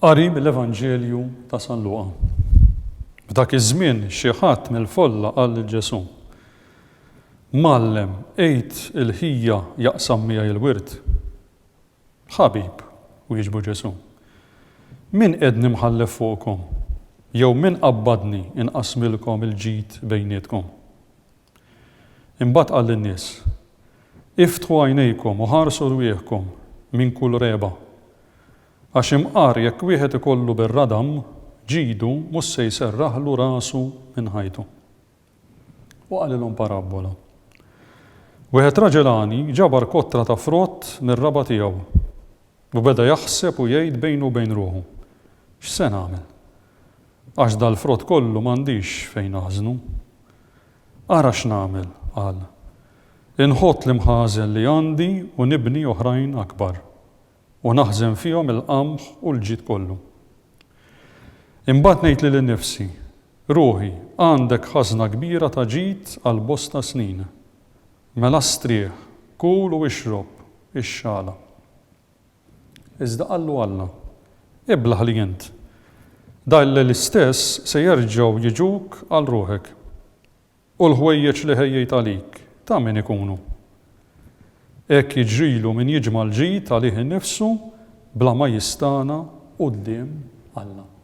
Qari mill-Evanġelju ta' San Luqa. F'dak iż-żmien xi ħadd mill-folla qal lil Ġesù, Mgħallem, għid il-ħija jaqsam miegħi l-wirt. Ħabib, wieġbu Ġesù, min qed nimħallef fuqkom, jew min qabbadni inqasmilkom il-ġid bejnietkom? Imbagħad qal lin-nies, Iftħu għajnejkom u ħarsu rwieħkom minn kull regħba. Għax imqar jekk wieħed ikollu bir-radam ġidu mhux se jserraħlu rasu minn ħajtu. U qalilhom parabbola, Wieħed raġel għani ġabar kotra ta' frott mir-raba' tiegħu. U beda jaħseb u jgħid bejnu u bejn ruħu, X'se nagħmel? Għax dal-frott kollu m'għandix fejn aħżnu. Ara x'nagħmel, qal, inħott l-imħażen li għandi u nibni oħrajn akbar, u naħżen fihom il-qamħ u l-ġid kollu. Imbagħad ngħid lili nnifsi, Ruħi, għandek ħażna kbira ta' ġid għal bosta snin. Mela strieħ, kul u ixrob, ixxala. Iżda qallu Alla, Iblah li int, dgħilli l-istess se jerġgħu jiġuk għal ruħek, u l-ħwejjeġ li ħejjejt għalik, ta' min ikunu? Hekk jiġrilu min jiġma' l-ġid għalih innifsu bla ma jistagħna quddiem Alla.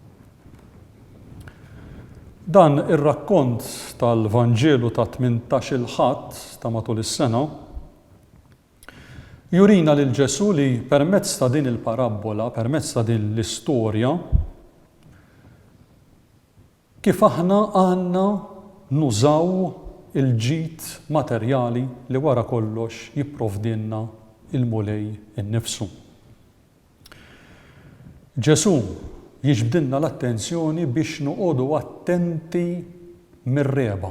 Dan ir-rakkont tal-Vanġelu ta' tmintax-il Ħadd ta' matul is-sena jurina lil Ġesù li permezz ta' din il-parabbola, permezz ta' din l-istorja, kif aħna għandna nużaw il-ġid materjali li wara kollox jipprovdilna l-Mulej innifsu. Ġesù jiġbdilna l-attenzjoni biex noqogħdu attenti mir-regħba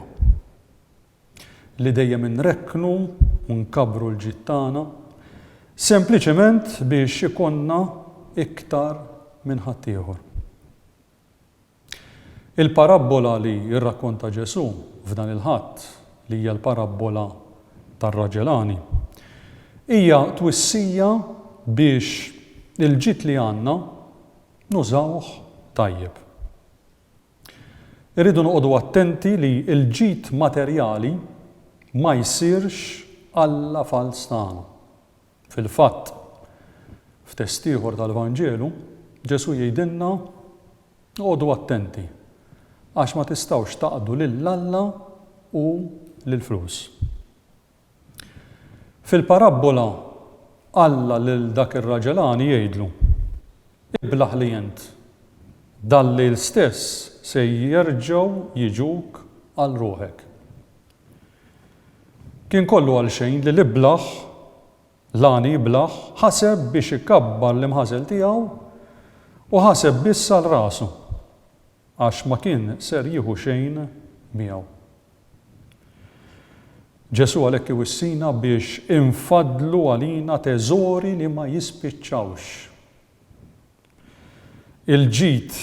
li dejjem inrekknu u nkabbru l-ġid tagħna sempliċement biex ikollna iktar minn ħaddieħor. Il-parabbola li rrakkonta Ġesù f'dan il-Ħadd, li hija l-parabbola tar-raġel għani, hija twissija biex il-ġid li għandna nużawh tajjeb. Irridu noqogħdu attenti li l-ġid materjali ma jsirx alla fals tagħna. Fil-fatt, f'test ieħor tal-Vanġelu, Ġesù jgħidilna, Għodu attenti, għax ma tistgħux taqdu lil Alla u lill-flus. Fil-parabbola, Alla lil dak ir-raġel għani jgħidlu, Iblah li int, dal-lejl stess se jerġgħu jiġuk għal ruħek. Kien kollu għal xejn li l-iblah, l-għani iblah, ħaseb biex ikabbar l-imħasel tiegħu u ħaseb biss għal rasu, għax ma kien ser jieħu xejn miegħu. Ġesù għalhekk iwissina biex infaddlu għalina teżori li ma jispiċċawx. Il-ġid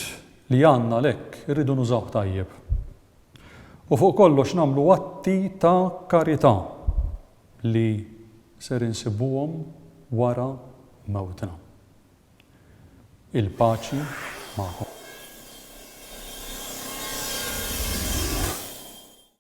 li għandna għalhekk irridu nużawh tajjeb. U fuq kollox nagħmlu atti ta' karità li ser insibuhom wara mewtna. Il-paċi magħkom.